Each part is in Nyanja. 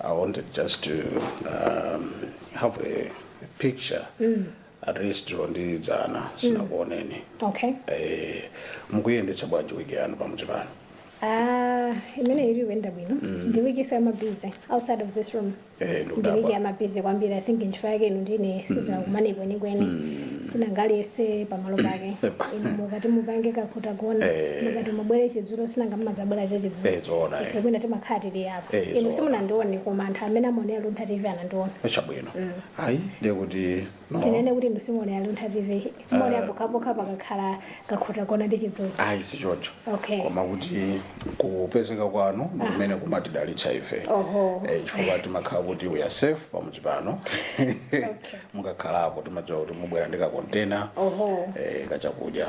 I wanted just to um, have a picture mm. at least ndi dzana sindinakuoneni mm. okay. eh, mukuyendetsa bwanji wiki yanu pamudzi pano Ah, imene ikuyenda bwino ndi wiki so I'm a busy outside of this room Eh, ndi wiki ndikudabwa I'm a busy kwambiri i think ntchito yake ino ndine sitinakumane kwenikweni sinanga aliyense pamalo pake ino mukati mupange kakhuta kona Eh. mukati mubwere chidzudzu sinanga mmadzabwera chachidzulo Eh, zoona eh. ife kwina timakhala tili apa Eh, inu zoona. simunandione koma anthu amene amaonera luntha tv anandiona chabwino ayi ndiye kuti no. tinene kuti inu simuonera luntha tv muonera pokhapokha pakakhala kakhuta kona ndi chidzudzu ayi sichocho Okay. koma kuti kupezeka kwanu ndi kumene kumatidalitsa ife Oho. Eh, chifukwa timakhala kuti we are safe pamudzi pano mukakhalapo timadziwa kuti mubwera ndi kakontena Oho. eh, kachakudya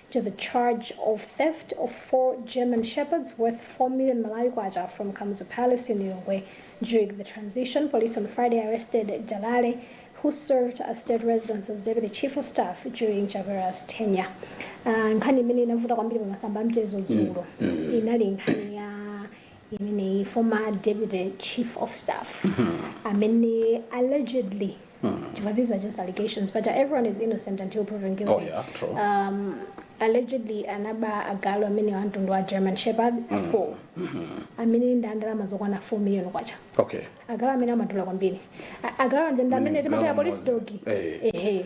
to the charge of theft of four German Shepherds worth 4 million Malawi kwacha from Kamuzu Palace in Lilongwe. During the transition, police on Friday arrested Jalale, who served as state residence as deputy chief of staff during Chavera's tenure. Uh, nkhani imene inavuta kwambiri pamasamba amchezo dzulo inali nkhani ya imeneyi former deputy chief of staff amene allegedly chifukwa these are just allegations but everyone is innocent until proven guilty Oh, yeah, true. um, allegedly anaba agalu amene a mtundu wa german shepherd 4 amene ndi a ndalama zokwana 4 million kwacha okay agalu amene amadula kwambiri A- agalu aja ndi amene timati police dog Eh. ehe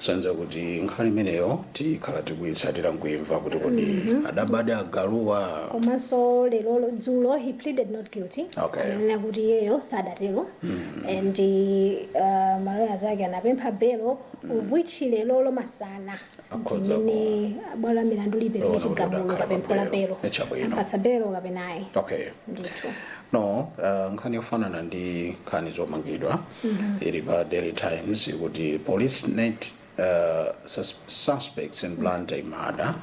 Zosonyeza kuti nkhani imeneyo tikhala tikuyitsatira nkuimva kuti kodi adabadi agaluwa. komanso lero dzulo he pleaded not guilty Okay. ananena kuti iyeyo sadatero and uh, maloya zake anapempha belo which lero lomasana ano ndi mmene bwalo la milandu lipereke Kuona kuti chigamulo adakhala pa kapempho la belo. belo Ni chabwino. apatsa belo kapena ayi okay ndithu no uh, nkhani yofanana ndi nkhani zomangidwa ili pa daily times ikuti police net uh, sus suspects in blantyre murder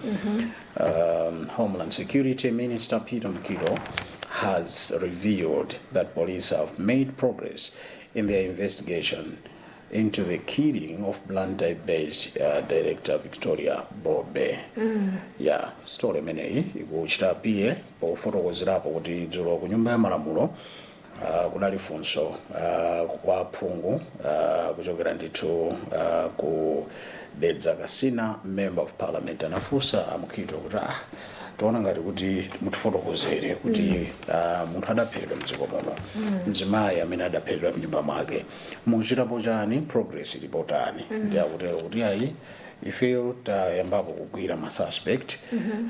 um, homeland security minister peter mkilo has revealed that police have made progress in their investigation into the killing of blantyre based uh, director victoria bobe ya story imeneyi ikuchita piye pofotokozerapo kuti dzulo ku nyumba ya malamulo Uh, kunali funso uh, kwa phungu uh, kuchokera ndithu uh, ku Dedza Kasina member of parliament anafunsa a Mukhito kuti ah, tiona ngati kuti mutifotokozere kuti mm. uh, munthu adaphedwera mdziko muno mm. mzimayi amene adaphedwera mnyumba mwake mukuchitapo chani progress ili potani mm. ndi akutero kuti ayi ifeyo tayambapo kugwira ma suspect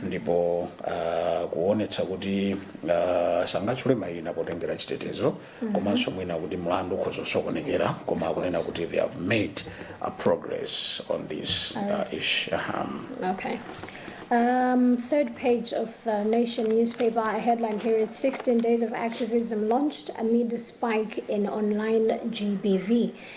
ndipo uh, kuonetsa kuti uh, sangatchule mayina potengera chitetezo komanso mwina kuti mlandu ukhoza kusokonekera koma akunena kuti they have made a progress on this uh, issue um, Okay. Um, third page of the Nation newspaper, a headline here is 16 Days of Activism Launched Amid a Spike in Online GBV.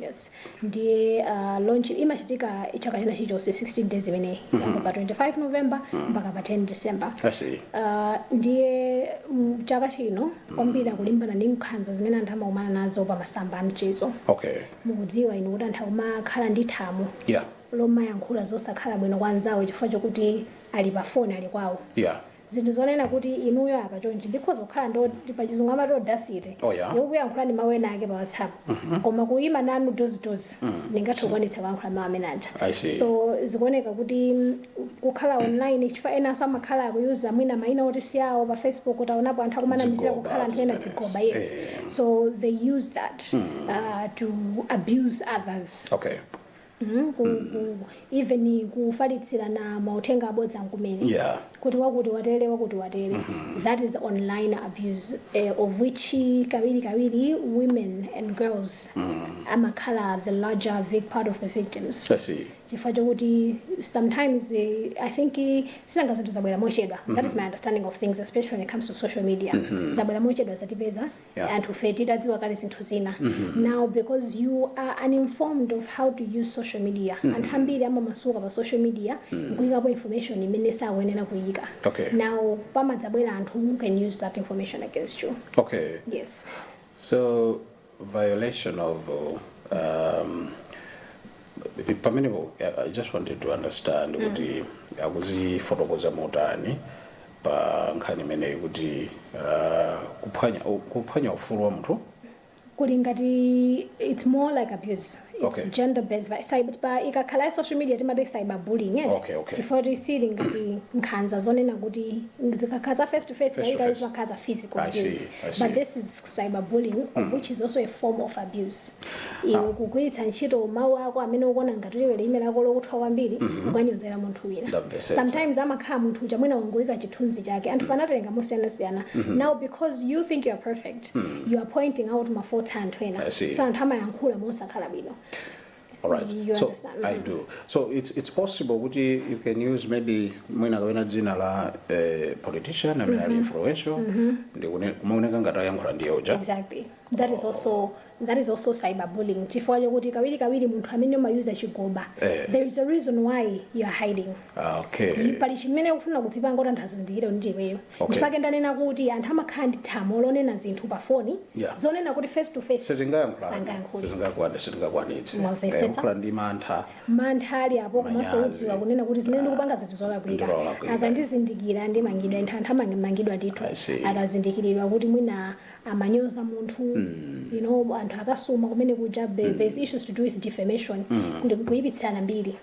Yes. Ndiye uh, launch imachitika chaka china chilichonse 16 days imeneyi mm -hmm. pa 25 November mpaka pa 10 December. I see. Uh, ndiye mm, chaka chino kwambiri akulimbana ndi nkhanza zimene anthu amakumana nazo pa masamba a mchezo. Okay. Mukudziwa inu kuti anthu akumakhala ndi thamo Yeah. lomayankhula zosakhala bwino kwa anzawo chifukwa chokuti ali pa foni ali kwawo. Yeah. zinthu zonena kuti inuyo apa chonchi ndikhoza kukhala ndi pa chizungu amati audacity Oh, yeah. yokuyankhulani mawu enaake pa whatsapp koma kuyima nanu maso ndi maso sindingathe kukwanitsa kuyankhula mawu amene aja I see. so zikuoneka kuti mm, kukhala online chifukwa enanso amakhala akuyuza mwina mayina oti si awo pa facebook taonapo anthu akumanamizira Zigoba, kukhala anthu ena zimenezi. zigoba yes Eh. so they use that uh, to abuse others okay mm, ku, ku, even kufalitsirana mauthenga abodza kumene Yeah. kuti wakuti watere wakuti watere that is online abuse eh, of which kawiri kawiri women and girls amakhala the larger vic part of the victims I see. chifukwa chokuti sometimes eh, i think eh, sinanga zinthu zabwera mochedwa that is my understanding of things especially when it comes to social media zabwera mochedwa zatipeza Yeah. anthufe tisadziwa kale zinthu zina now because you are uninformed of how to use social media anthu ambiri amamasuka pa social media nkuyikapo information imene sakuyenera kuyika Okay. now pamadzabwera anthu who can use that information against you okay yes so violation of um, pamenepo i I just wanted to understand kuti akuzifotokoza motani pa nkhani imeneyi kuti kuphwanya kuphwanya ufulu wa munthu kuli ngati it's more like abuse it's okay. gender based but cyber pa ikakhala ya social media timati cyber bullying eh okay, okay. chifukwa kuti sili ngati nkhanza zonena kuti zikakhala face to face kaika zimakhala physical abuse but this is cyberbullying of mm. which is also a form of abuse iwe ah. kugwiritsa ntchito mawu ako amene ukuona ngati lilime lako lokuthwa kwambiri mm -hmm. kukanyozera munthu wina sometimes amakhala munthu uja mwina wangoyika chithunzi chake anthu mm. anatilenga mosiyanasiyana mm -hmm. now because you think you are perfect mm -hmm. you are pointing out mafaults a anthu ena so anthu amayankhula mosakhala bwino All right. You so understand? I do. So it's it's possible kuti you can use maybe mwina kapena dzina la eh, politician amene ali influential ndi kune- kumaoneka ngati ayankhula ndi iyeyo uja. exactly that is also that is also cyberbullying chifukwa chokuti kawiri kawiri munthu amene umayuza chigoba Eh. there is a reason why you are hiding Ah, okay. pali chimene ukufuna kudzipanga kuti anthu asazindikire kuti ndi iweyo Okay. nchake ndanena kuti anthu amakhala ndi thamo lonena zinthu pa foni Yeah. zonena kuti face to face sizingayankhulani sangayankhule sizingakwane sitingakwanitse Mwamvetsetsa? Eh, kukhala ndi mantha mantha ali apo komanso Manyazi. udziwa kunena kuti zimene ndikupangazi ndi zolakwika Ndizolakwika. akandizindikira ndimangidwa anthu anthu amangidwa ndithu I see. akazindikiridwa kuti mwina amanyoza munthu you know anthu akasuma kumene kuja be- there's issues to do with defamation ndi kuyipitsirana mbiri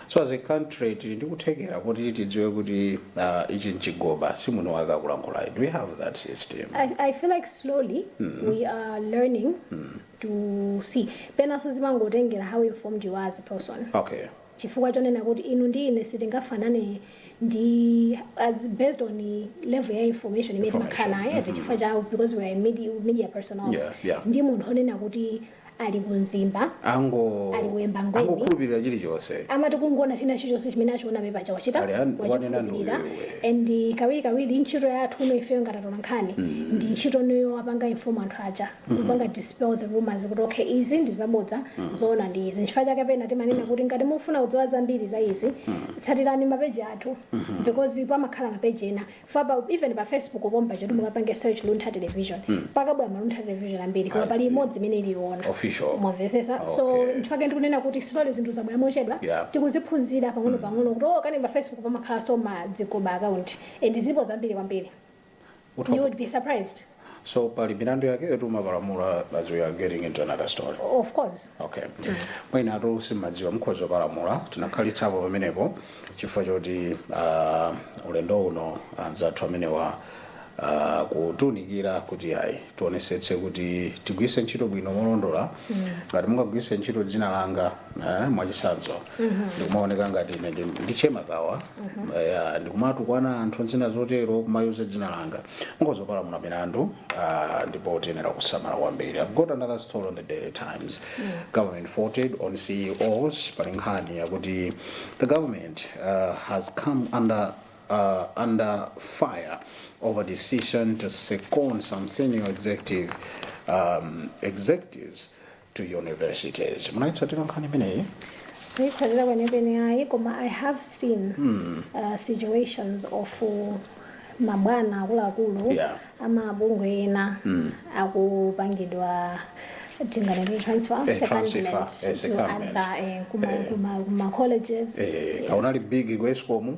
So as a country tili ndi kuthekera kuti tidziwe kuti ah, ichi nchigoba si muno wake akulankhulayi. Do we have that system? I, I feel like slowly we are learning to see penanso zimangotengera how informed you are as a person Okay. chifukwa chonena kuti inu ndi ine sitingafanane ndiye it's based on level ya information imene Information. timakhala nayo chifukwa cha because we are a media, media personnel Yeah, yeah. ndi munthu wonena kuti ali ku Mzimba, ango ali ku Embangweni, angokhulupirira chilichonse amatha kungoona china chilichonse chimene achiona pamene paja wachita Ali an- wanena ndiye wachikhulupirira uyu. and kawirikawiri ntchito yathu ino ifeyo ngati atola nkhani ndi ntchito ndiyo yopanga inform anthu aja kupanga dispel the rumors kuti okay izi ndi zabodza zoona ndi izi nchifukwa chake pena timanena kuti ngati mufuna kudziwa zambiri za izi tsatirani mapeji athu because pamakhala mapeji ena fwaba even pa facebook pomwe paja kuti mukapange search luntha television pakabwera ma luntha television ambiri koma I pali see. imodzi imene ili yoona Official. mwamvetsetsa so Okay. nchifukwa chake ndikunena kuti slowly zinthu zabwera mochedwa Yeah. tikuziphunzira pang'ono pang'ono kuti oh kani pa facebook pamakhalanso ma zigoba account and zilipo zambiri kwambiri you would be surprised so pali milandu yake yoti umapalamula as we are getting into another story of course okay mwina anthu samadziwa nkhoza kupalamula tikhalitsapo pamenepo chifukwa choti uh, ulendo uno anzathu amenewa uh, kutiunikira kuti ayi tionetsetse kuti tigwiritse ntchito bwino molondola ngati mungagwiritse ntchito dzina langa eh, mwachitsanzo ndikumaoneka ngati ine ndi- ndi Che Makawa Eh, ndikumatukwana anthu zina zotero kumayuza dzina langa Ngozi opalamula milandu uh, ndipo tiyenera kusamala kwambiri. I've got another story on the Daily Times. Mm. Government faulted on CEOs pali nkhani yakuti the government uh, has come under uh, under fire over decision to second some senior executive um, executives to universities. Munaitsatira nkhani imeneyi? Sindinayitsatire kwenikweni ayi koma I have seen hmm. uh, situations of uh, mabwana akuluakulu yeah. amabungwe ena mm. akupangidwa tinganene transfer eh, secondment to other eh, kuma, eh. kuma, kuma colleges eh, yes. kaunali big ku escom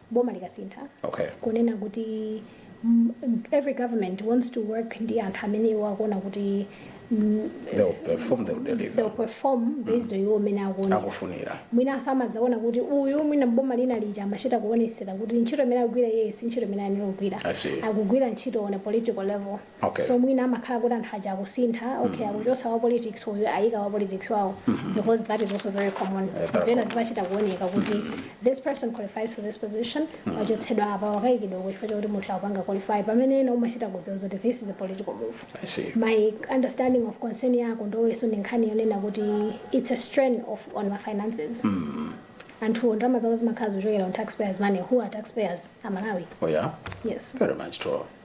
boma likasintha Okay. kunena kuti mm, every government wants to work ndi anthu amene iwo akuona kuti mm, They'll perform, they'll they'll deliver. perform based on iwo amene akuona Akufunira. mwinanso amadzaona kuti uyu mwina boma lina lija amachita kuonesera kuti ntchito imene akugwira iye si ntchito imene ayenera kugwira I see. akugwira ntchito on a political level Okay. so mwina amakhala kuti anthu aja akusintha okay akuchotsa wa politics uyu ayika wa politics wawo because that is also very common very pena common. zimachita kuoneka kuti this person qualifies for this position wachotsedwa apa wakayikidwa kuchifukwa chakuti munthu akupanga qualify pamene ena umachita kudziwa kuti this is a political move I see. my understanding of concern yako ndoweso ndi nkhani yonena kuti it's a strain on my finances anthu ndalama zawo zimakhala zochokera on taxpayers money who are taxpayers amalawi Oh yeah. yes Very much true.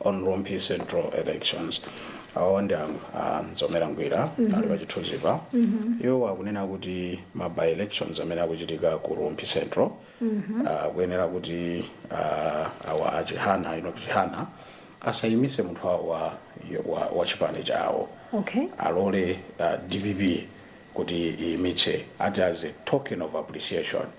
on Rumphi Central elections. Awa ndi a- a Mzomera Ngwira ali pa chithunzipa. Iwo akunena kuti ma by elections amene akuchitika ku Rumphi Central ah, akuyenera kuti ah, awa a Chihana ino Chihana asayimitse munthu wawo wa, wa, wa chipani chawo okay alole uh, dpp kuti iyimitse ati as a token of appreciation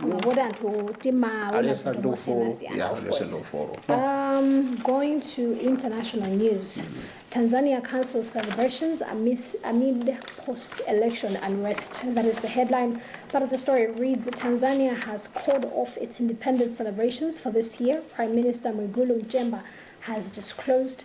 koma kuti anthu timaona aliyense ali zinthu ndi ufulu mosiyanasiyana yeah, of aliyense ndi course. ufulu Um, going to international news, Tanzania cancels celebrations amidst, amid post-election unrest. That is the headline. Part of the story reads, Tanzania has called off its independence celebrations for this year. Prime Minister Mwigulu Nchemba has disclosed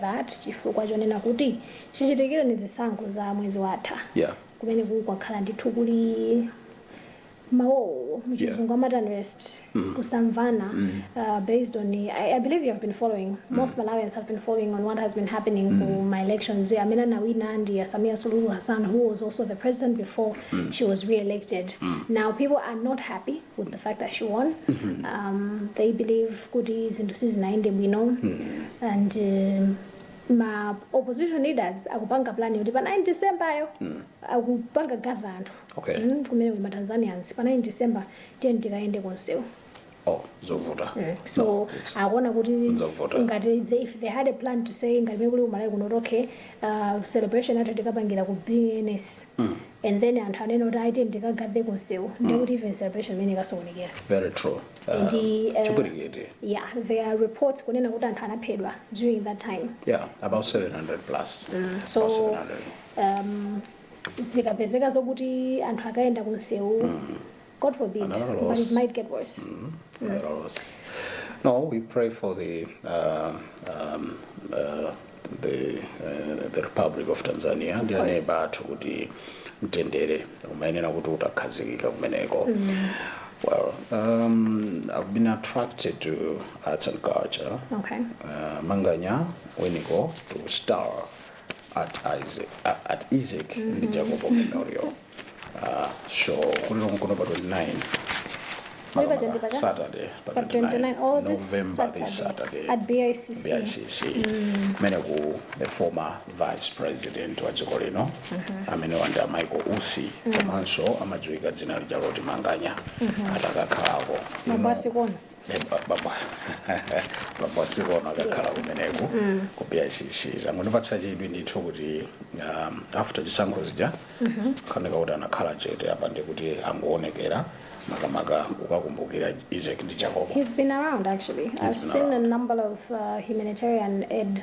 that chifukwa chonena kuti chichitikireni zisankho za mwezi watha yeah. kumeneku kwakhala ndithu kuli ma uwo muchizungu amati unrest mm. kusamvana mm. uh, based on I, I believe you have been following mm. most mm. malawians have been following on what has been happening mm. for my elections amene anawina ndi uh, samia suluhu hassan who was also the president before mm. she was re-elected mm. now people are not happy with the fact that she won. Um, they believe kuti zinthu sizinayende bwino and um, ma opposition leaders akupanga plan yoti pa 9 December yo akupanga gather anthu Okay. Mm, kunena kuti ma Tanzanians pa 9 December tiyeni tikayende kumsewu oh zovuta so No, it's- akuona kuti Nzovuta. ngati they- if they had a plan to say ngati mene kuli ku Malawi kuno okay uh, celebration yathu tikapangira ku bns and then anthu anene kuti ayi tiyeni tikagathe kumsewu ndiye kuti even celebration imeneyi ikasokonekera very true Ah, ndi eh, chipwirikiti yeah there are reports kunena kuti anthu anaphedwa during that time yeah about 700 plus so About 700. um, zikapezeka zokuti anthu akayenda kumsewu God forbid, Another but loss. it might get worse. Another loss. No, we pray for the uh, um, uh, the uh, the Republic of Tanzania ndi course. aneba athu kuti mtendere umayenera kuti utakhazikika kumeneko. Well, um, I've been attracted to arts and culture. Okay. Uh, Manganya, Winiko, to star at Isaac, at Isaac ndi Jacobo Memorial. Ah, sure. Kuliko Mkono pa 29. Muli pa 20 paja? Saturday pa Pa 29 oh, this November this Saturday. Saturday at BICC. BICC kumene the former vice president wa dziko lino amene ali a Michael Usi komanso amadziwika dzina lija loti Manganya atakakhalako Bambo a Sikono. Eh, ba- bambo bambo a Sikono akakhala kumeneko ku bicc zangondipatsa chidwi ndithu kuti um, after zisankho zija akuoneka kuti anakhala chete apa ndi kuti angowonekera makamaka ukakumbukira izeki ndi jakobo He's been around actually. I've been seen a number of uh, humanitarian aid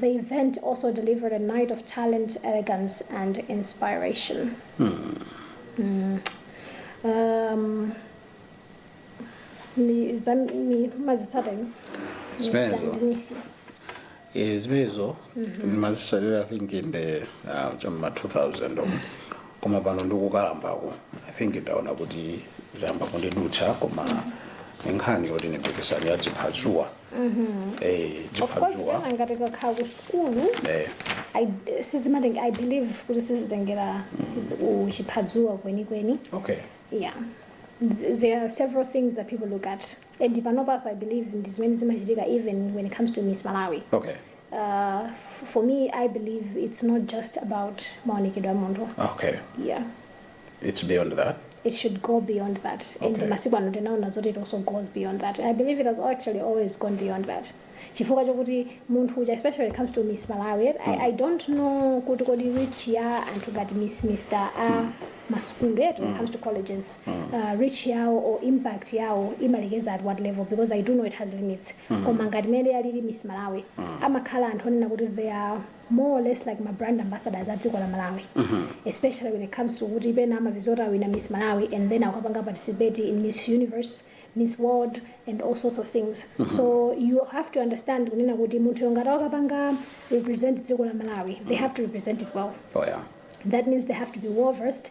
The event also delivered a night of talent, elegance and inspiration. Mm. Um, ni za ni mazisata ino. Zimenezo. Stand nisi. Eh, zimenezo ndimazitsatira i think in the ah, cha m'ma 2000 umo. koma pano ndikukalambako i think ndaona kuti zayamba kundidutsa koma ndi nkhani yoti ndi mpikisano wa dziphadzuwa eh, of dziphadzuwa course pena ngati kakakhala ku sukulu eh, I- sizimatenga i believe kuti sizitengera uchiphadzuwa kwenikweni okay yeah Th- there are several things that people look at and panopanso i believe ndi zimene zimachitika even when it comes to miss malawi okay uh, f- for me i believe it's not just about maonekedwe a munthu okay yeah It's beyond that. it should go beyond that and Okay. masiku ano tinaona zoti it also goes beyond that and i believe it has actually always gone beyond that chifukwa chokuti munthu uja especially when it comes to miss malawi I, i don't know kuti kodi reach ya anthu ngati miss mr a masukulu yet when it comes to colleges uh, reach yawo or impact yawo imalekezera at what level because i do know it has limits koma ngati mmene alili miss malawi amakhala anthu onena kuti they are more or less like ma brand ambassadors a dziko la malawi especially when it comes to kuti pena amapeza kuti awina miss malawi and then akapanga participate in miss universe miss world and all sorts of things so you have to understand kunena kuti munthu yongati akapanga represent dziko la malawi they have to represent it well Oh yeah. that means they have to be well versed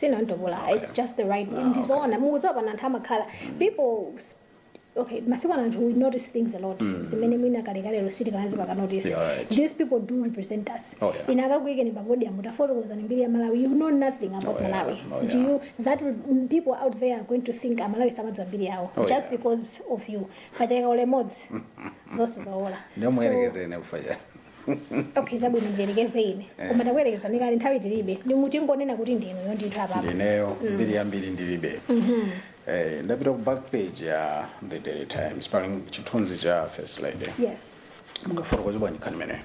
sinantopola Okay. it's just the right Ah, ndizoona mukudziwa pano anthu amakhala people s- okay masiku ano anthu we notice things a lot zimene mwina kalekalelo sitikanazipanga notice Yeah, right. these people do represent us Oh, yeah. ina akakuyikani pa podium utafotokozani mbiri ya malawi you know nothing about Oh, yeah. malawi Oh, yeah. do you that will, mm, people out there are going to think amalawi samadziwa mbiri yawo Oh, just yeah. because of you pachaka ulemodzi zonse zaola ndio So- mwerekezere nekufaja okay chabwino ndiyerekeze ine Eh. koma zakuyerekezazi ndi kale nthawi tilibe ndiye tingonena kuti ndineyo ndithu apapa ndineyo mbiri yambiri ndilibe Eh, ndapita ku back page ya the daily times pali chithunzi cha first lady yes mungafotokoze bwanji nkhani imeneyo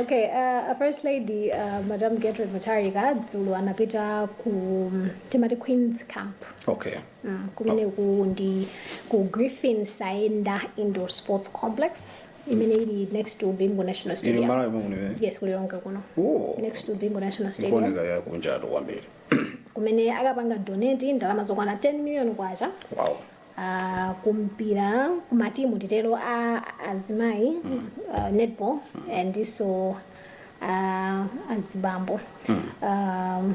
okay uh, a first lady uh, madam gertrude mutharika dzulo anapita ku timati queens camp okay Kumeneku ndi ku Griffin Saenda Indoor Sports Complex imene ili next to Bingu National Ili Stadium. Malawi muno eh? Yes, ku Lilongwe kuno. Oh. Next to Bingu National Stadium. Kuoneka ya kunjatu kwambiri. Kumene akapanga donate ndalama zokwana 10 million kwacha. Wow. Uh, kumpira kumatimu tidzitero a azimayi uh, netball ndiponso uh, azibambo um,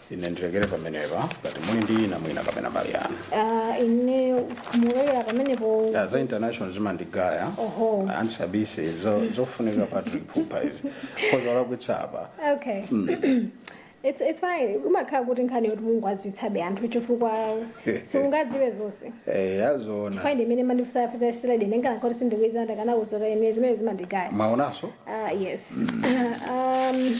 ine ndilekere pamenepa ngati muli ndi ina mwina kapena mbali yanu Ah, ine mulekera pamenepo Ya, za international zimandigaya Oho. antisabise zo- zofunika patrick pupa izi kozaulakwitsa apa okay it's, it's fine umakhala kuti nkhani yoti mudziwitsebe anthu chifukwa simungadziwe zonse Eh, yazona kwayi ndimene mandifusafusa siledi ndingana kuti sindikudziwa ndakana kuzota ine zimene zimandigaya mwaonaso ah yes um,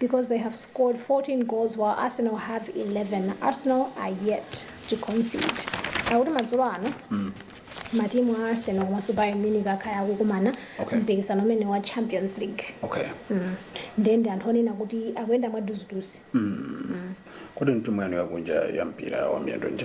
because they have scored 14 goals while Arsenal have 11. Arsenal are yet to concede. Akuti madzulo ano matimu a Arsenal komanso Bayern Munich akhala akukumana Okay. mpikisano umenewu wa Champions League. okay Mm. Ndiye ndi anthu onena kuti akuyenda mwaduziduzi. kodi timu yanu yakunja ya mpira wa miyendo ndi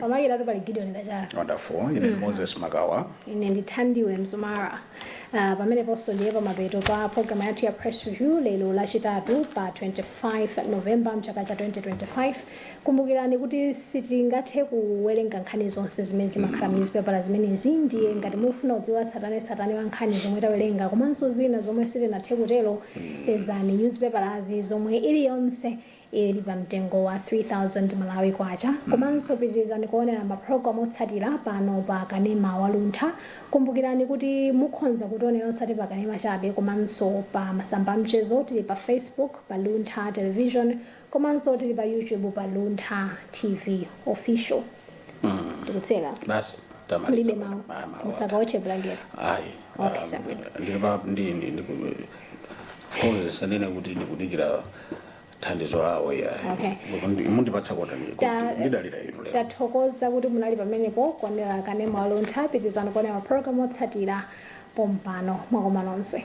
Pamakinatu pali Gideon Kachala. Wonderful. Ine Moses Makawa. Ine ndi Thandiwe Mzumara. Uh, pameneponso ndiye pamapeto pa programu yathu ya press review lero lachitatu pa 25 novemba mchaka cha 2025 kumbukirani kuti sitingathe kuwerenga nkhani zonse zimene zimakhala mu nyuzipepala zimenezi ndiye ngati mufuna kudziwa tsatanetsatane wa nkhani zomwe tawerenga komanso zina zomwe sitinathe kutero pezani nyuzipepalazi zomwe iliyonse ili pa mtengo wa 3000 Malawi Kwacha komanso pitirizani kuonera ma program otsatira pano pa kanema wa Luntha. Kumbukirani kuti mukhonza kutionera osati pa kanema chabe komanso pa masamba amchezo tili pa Facebook pa Luntha Television komanso tili pa YouTube pa Luntha TV official. Tikutseka. basi Mulibe tamaliza mawu. Ah, mawu ata. Musakaotche blanket. ayi Okay, sir. ndilipa ndi ndi ndi- of course sanene kuti ndikudikira thandizo lawo yayi Okay. Mundi- mundipatsa kotani Ta- ndidalira inu lero tathokoza kuti munali pamenepo kuonera kanema wa luntha pitirizani kuonera mapulogalamu otsatira pompano mwakoma nonse